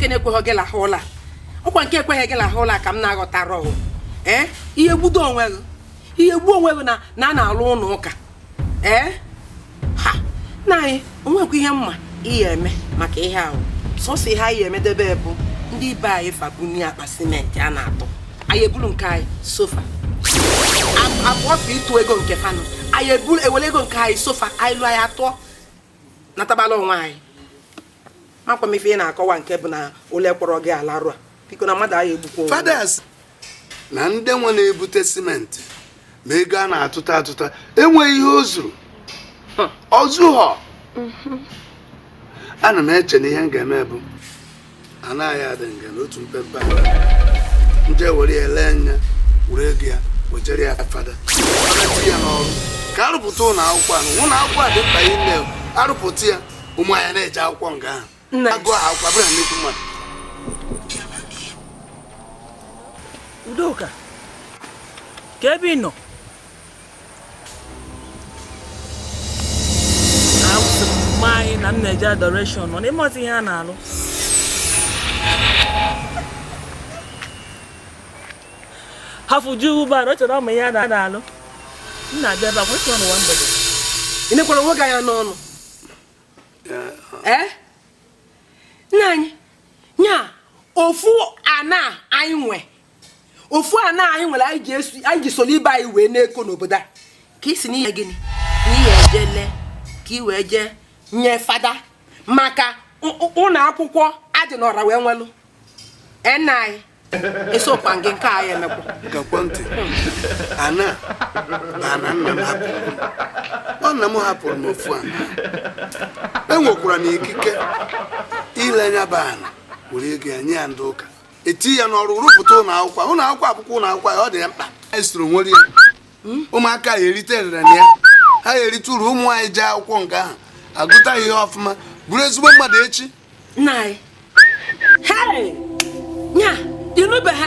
nke na-ekweghị gị lahụ ụla ọkwa nke ekweghị gị lahụ ụla ka m na-aghọtara ọhụ ee ị ya-egbudo onwe gị ị ya-egbu onwe gị na a na-alụ ụnọ ụka ee ha nna anyị o nwekwa ihe m ma ị ya-eme maka ihe ahụ sọsọ ihe anyị emedebe bụ ndị ibe anyị fa bunie akpa simenti a na-atụ anyị ebulu nke anyị so fa ọ bụ fa ịtụ ego nke fa nụ anyị eburu ewere ego nke anyị so fa anyị lụọ ya atụọ na atagbula onwe gị makwa m ife ị na-akọwa nke bụ na ole kpọrọ gị ala rụa biko na mmadụ agaghị egbukwa onwe ya. Fada sị na ndị nwe na-ebute simenti ma ego a na-atụta atụta enweghị ihe o zuru o zuhọ ana m eche na ihe m ga-eme bụ ana anyị dị nga na otu mpempe ala m jee were ya lee ya were ego ya wejere ya fada Fada tinye ya n'ọrụ ka a rụpụta ụlọ akwụkwọ ahụ ụlọ akwụkwọ a dị mkpa ime arụpụta ya ụmụ anyị na-eje akwụkwọ nga ahụ na-agụ akwụkwọ abụrụ na nnukwu mmadụ udoka kee ebe ị na-awụsị mm nna anyị na m na-eje adoration nọ n'ime ọtụ ihe a na-alụ hafụ ju ugbo arụ chọrọ ụmụ ihe a na-alụ m na-abịa ebe akwụsị ọnụ nwa mgbede ị nekwara onwe gị anya n'ọnụ ee nna anyị nya ofu ana anyị nwe ofu ana anyị nwere anyị ji soro ibe anyị wee na-eko n'obodo a ka ị sị na ị ya gịnị na ị ya-eje lee ka ị wee jee nye fada maka ụnọ akwụkwọ a dị n'ọra wee nwelụ nna anyị esokwa gị nke a ya emekwa gekwa ntị ana na ana nna m hapụrụ m. ọ nna m hapụrụ m ofu ana enwekwara m ikike ile nya bụ ana were ego ya nye ya ndị ụka etinye ya n'ọrụ rụpụta ụlọ akwụkwọ ụlọ akwụkwọ a bụkwa ụlọ akwụkwọ anyị ọ dị anyị mkpa anyị soro nwere ya ụmụaka ya-erite erere na ya ha ya-erite uru ụmụ anyị jee akwụkwọ nga ahụ agụta ya ihe ọfụma bụrụ ezigbo mmadụ echi nna anyị hei nya ịnụbeghị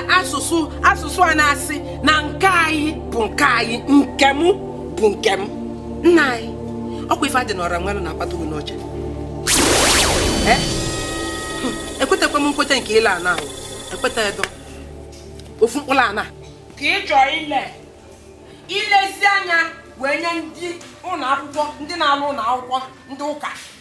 asụsụ a na-asị na nke anyị bụ nke anyị nke m bụ nke m nna anyị ọkwa ife dị n'ọra nwanụ na-akpata gị n'ọcha Eh? Hmm, ekwetakwa m nkweta nke ile ana ahụ ekweta edo ofu mkpụrụ ana ka ị chọọ ile ilezi anya wee nye ndị ụlọ akwụkwọ ndị na-alụ ụlọ akwụkwọ ndị ụka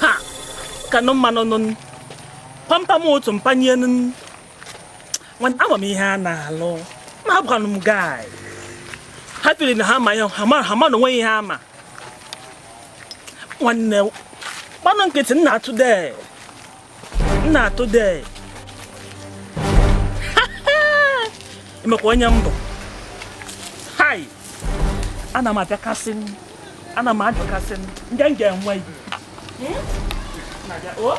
ha kanụ mmanụ nụ pampam otu mpanye nụ nwanne ama m ihe a na-alụ ma abụkwanụ m guy ha tiri na ha ma ya ha ma ha ma na onweghị ihe ha ma nwanne gbanụ nkịtị nna today nna today emekwa onye mbụ hai ana m abịakasị ana m ajụkasị ndị m ga-enwe ibu hmm? oh.